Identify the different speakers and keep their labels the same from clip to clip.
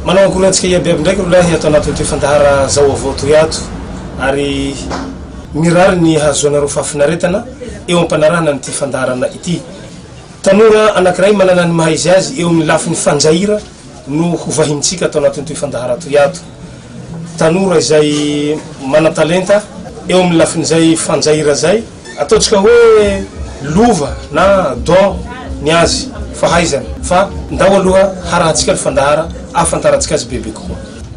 Speaker 1: Manao akory antsika iabiaby ndraiky rolahy ato anatin'ity fandahara zao avao toy ato ary mirary ny hahazoanareo fahafinaretana eo am-panarahana an'ity fandaharana ity. Tanora anankiray manana ny maha-izy azy eo amin'ny lafiny fanjaira no hovahinintsika ato anatin'itoy fandahara toy ato. Tanora izay manan-talenta eo amin'ny lafin'izay fanjaira izay, ataontsika hoe lova na don ny azy, fahaizana, fa ndao aloha harahantsika ny fandahara ahafantarantsika azy bebe kokoa.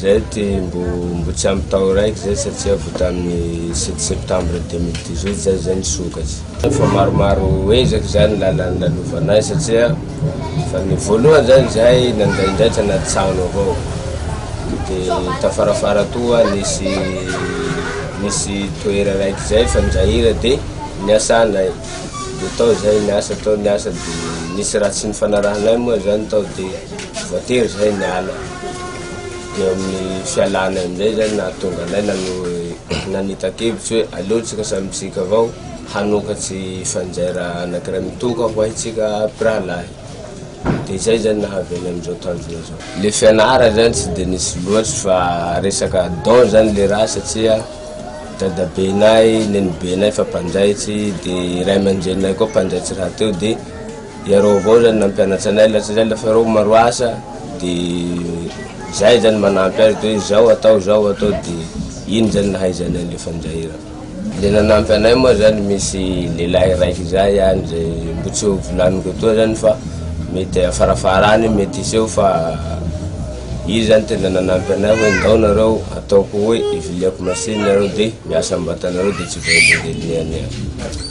Speaker 2: Zay ty mbo mbo tsy ampy tao raiky zay satria vo taminy sept septembre deux mille dix huit zay zay nisokatry. Efa maromaro ezaka zany lala nilalovanay satria fa ny voalohany zany zay nandraindray tanaty trano avao de tafarafara toa nisy nisy toera raiky zay fa nijahira de niasanay de tao zay niasa tao niasa de nisy raha tsy nifanarahanay moa zany tao de voatery zay niala. Dia amin'ny fialana eo amin'izay izany no nahatonga anay nanita-kevitra hoe aleontsika samy isika avao hanokatry fanjaira anankiray mitokana ho antsika mpirahalahy. Dia izay izany no nahavy anay amin'izao tanjona izao. Ilay fianarana izany tsy dia nisy loatra fa resaka don izany ilay raha satria dadabenay, nenibenay efa mpanjaitra dia ray aman-dreninay koa mpanjaitra rahateo dia. Iareo avao zany nampianatsa anay la satria la fa iareo maro asa de zay zany manampy azy de hoe zao atao zao atao de iny zany nahaizanay le fanjairana. Le nanampy anay moa zany misy lelahy raiky zay any zay mbo tsy ho volaniko etoa zany fa mety afarafarany io mety hiseho fa izy zany tena nanampy anay hoe ndao nareo ataoko hoe iviliako machine nareo de miasa ambatanareo de tsy voahelingelin'ny an'iahy.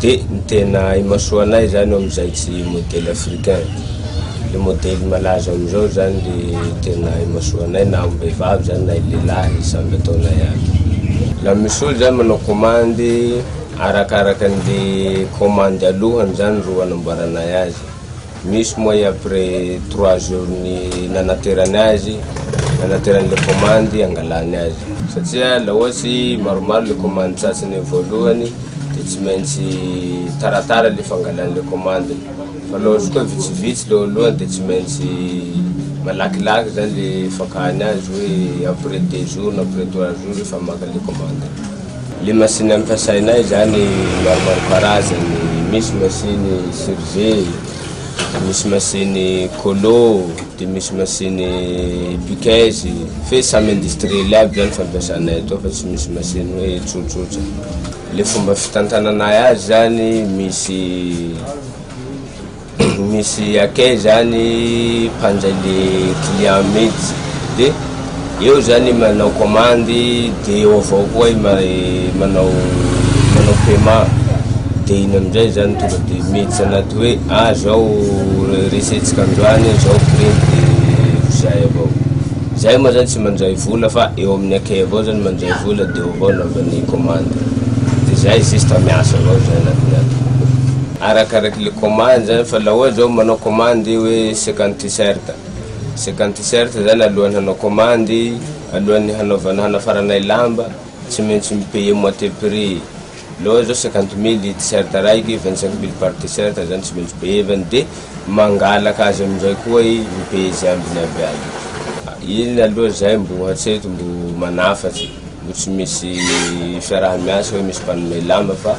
Speaker 2: De ny tena imasoa anay zany eo amizay tsy modely africain, le modely malaza amizao zany le tena imasoa anay na ambehivavy zany na lehilahy samy ataonay aby. La misy olo zany manao komandy arakarakanle komandy alohany zany ro anamboaranay azy. Misy moa après trois jours ny nanaterany azy, nanaterany le commande hangalany azy. Satria la ohatsy maromaro le commande tratsiny voalohany de tsy maintsy taratara le fangalany le commande fa la ohatsy koa vitsivitsy le oalohany de tsy maintsy malakilaky zany le fakany azy hoe après deux jours na après trois jours efa maka le commande. Le masiny ampiasainay izany maromaro karazany, misy masiny surge, de misy masiny colo, de misy masiny piqueuse, fe samy industriel aby zany fampiasanay eto fa tsy misy masiny hoe tsotsotra. Le fomba fitantananay azy zany misy. Misy akay zany mpanjay le client mitsy de eo zany manao commande de eo avao koa i manao manao paiement de iny amizay zany tonga de mitsy anaty hoe ah zao resentsika androany zao prix de zay avao zay moa zany tsy manjay vola fa eo amin'ny akay avao zany manjay vola de eo avao anaovany commande de zay juste miasa avao zay anatiny ato. Arakaraky le commande zany fa la ohatry zao manao commande hoe cinquante t-shirt, cinquante t-shirt zany alohan'ny hanao commande, alohan'ny hanaovana hanafaranay lamba tsy maintsy mi payer moitié prix, la ohatry zao cinquante mille t-shirt raiky, vingt cinq mille par t-shirt zany tsy maintsy payevany de mangalaka azy amizay koa i mi payer ze ambiny aby azy io, iny aloha zay mbo hatreto mbo manafatsy mbo tsy misy fiaraha-miasa hoe misy mpanome lamba fa.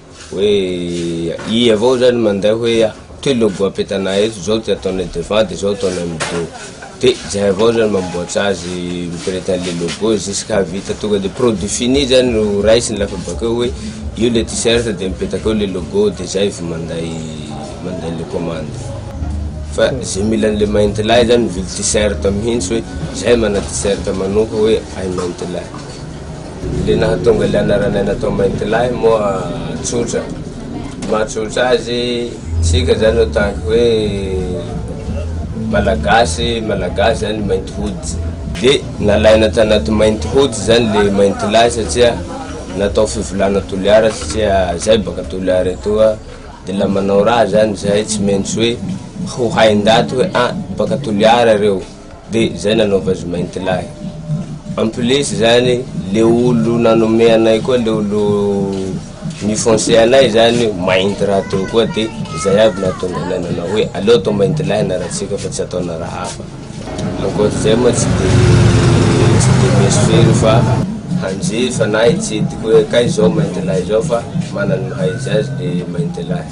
Speaker 2: Hoe i avao zany manday hoe ity logo apetanay eto, zao ty ataonay devant de zao ataonay amin'ny dos. De zay avao zany mamboatsa azy mipireta an'le logo jusqu'à vita tonga de produit fini zany no raisiny lafa bakeo hoe io le t-shirt de mipetaka eo le logo de zay vao manday manday le commande. Fa ze mila an'le Maintilahy zany mivily t-shirt mihintsy hoe zay mana t-shirt manoka hoe ahy Maintilahy. Dia nahatonga ilay anaranay natao Maintilahy moa tsotra. Ny mahatsotra azy, isika izany en tant que hoe Malagasy, Malagasy izany mainty hoditra. Dia nalaina tanaty mainty hoditra izany ilay Maintilahy satria natao fivolana Toliara satria izahay baka Toliara etoa. Dia ilay manao raha izany izahay tsy maintsy hoe ho hain-daty hoe an, baka Toliara ireo. De zay nanaova azy mainty lahy. En plus zany le olo nanome anay koa le olo nifonce anay zany mainty raha teo koa de zay aby nahatonga anay nanao hoe aleo atao mainty lahy anarantsika fa tsy ataona raha hafa. Ankoatr'izay moa tsy de tsy de meso firy fa hanjifa na hitsidika hoe kay zao mainty lahy zao fa manana ny maha izy azy le mainty lahy.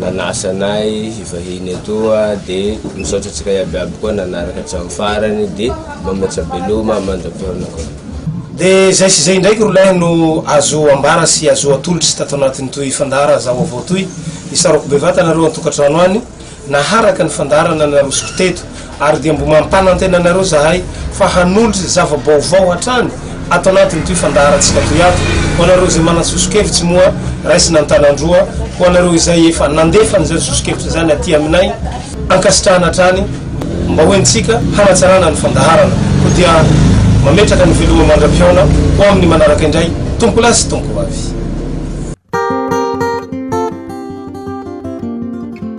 Speaker 2: nanasa anay hivahiny etoa de misaotra antsika iaby aby koa nanaraka hatramin'ny farany de mba mihoatra be loma mandram-pihaonana koa. De zay
Speaker 1: sy zay indraiky rolahy no azo ambara sy azo atolotry tato anatiny toy fandara za vaovao toy, isaroko bevata anareo antokatrano any naharaka ny fandarana narosoko teto Ary dia mbo mampanantena anareo zahay fa hanolotra zava-baovao hatrany ato anatin'itoy fandaharantsika toy ato ho anareo izay manana soso-kevitsy moa raisina an-tanan-droa ho anareo izay efa nandefa an'izany soso-kevitra izany aty aminay ankasitrahana hatrany mba ho entintsika hanatsarana ny fandaharana koa dia mametraka ny veloma mandra-pihaona ho amin'ny manaraka indray tompolahy sy tompovavy.